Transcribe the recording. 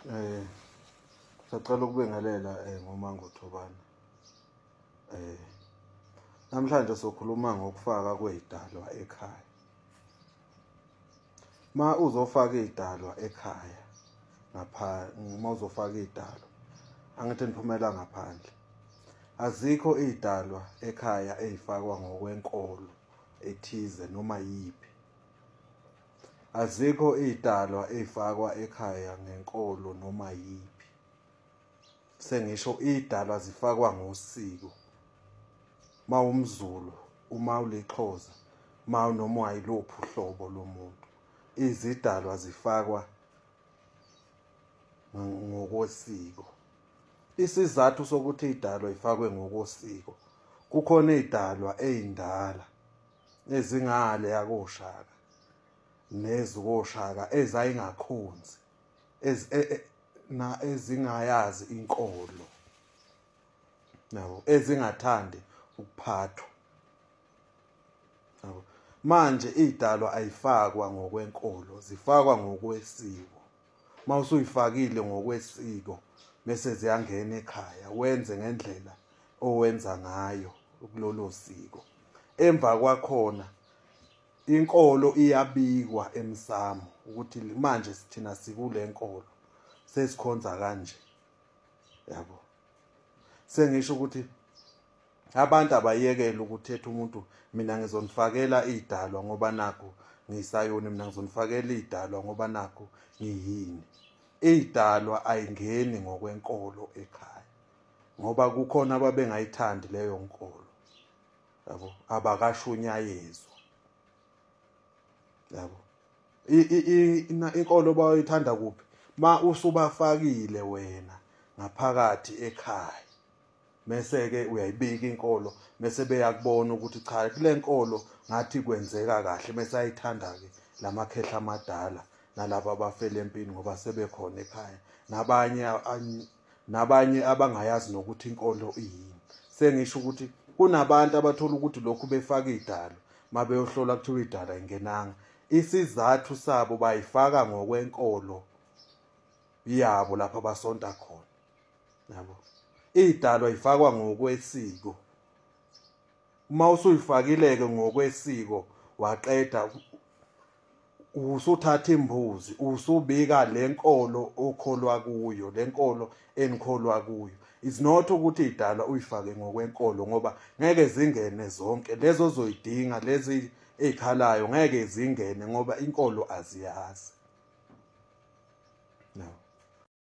Eh sacela ukubengelela eh ngomango Thobane. Eh namhlanje sokhuluma ngokufaka kwezidalwa ekhaya. Ma uzofaka izidalwa ekhaya ngapha uma uzofaka izidalwa angithi niphumela ngaphandle. Azikho izidalwa ekhaya ezifakwa ngokwenkolo ethize noma yipi. Azikho idalwa ezifakwa ekhaya ngenkolo noma yiphi. Sengisho idalwa zifakwa ngosiko. Mawumzulu, uma ulixhoza, mawu noma wayilophi uhlobo lomuntu. Izidalwa zifakwa ngokosiko. Isizathu sokuthi idalwa ifakwe ngokosiko kukhona idalwa ezindala ezingale yakoshaka nezukoshaka ezayingakhonzi ez e, e, na ezingayazi inkolo nabo ezingathandi ukuphathwa nabo manje idalwa ayifakwa ngokwenkolo zifakwa ngokwesiko uma usuyifakile ngokwesiko bese ziyangena ekhaya wenze ngendlela owenza ngayo kulolo siko emva kwakhona inkolo iyabikwa emsamo ukuthi manje sithina sikule nkolo sesikhonza kanje yabo sengisho ukuthi abantu abayekele ukuthetha umuntu mina ngizonifakela idalwa ngoba nakho ngisayoni mina ngizonifakela idalwa ngoba nakho ngiyini idalwa ayingeni ngokwenkolo ekhaya ngoba kukhona ababengayithandi leyo nkolo yabo abakashunyayezwa yabo inkolo bayithanda kuphi ma usubafakile wena ngaphakathi ekhaya mese-ke uyayibika inkolo mese beyakubona ukuthi cha kule nkolo ngathi kwenzeka kahle mese ayithanda-ke la makhehla amadala nalaba abafele empini ngoba sebekhona ekhaya nabanye nabanye abangayazi nokuthi inkolo iyini sengisho ukuthi kunabantu abathola ukuthi lokhu befaka idalo mabeyohlola kuthiwa idala ingenanga isizathu sabo bayifaka ngokwenkolo yabo lapha basonta khona yabo idalwa ifakwa ngokwesiko uma usuyifakileke ngokwesiko waqeda usuthatha imbuzi usubika lenkolo okholwa kuyo lenkolo enikholwa kuyo is not ukuthi idala uyifake ngokwenkolo ngoba ngeke zingene zonke lezo zoyidinga lezi ezikhalayo ngeke zingene ngoba inkolo aziyazi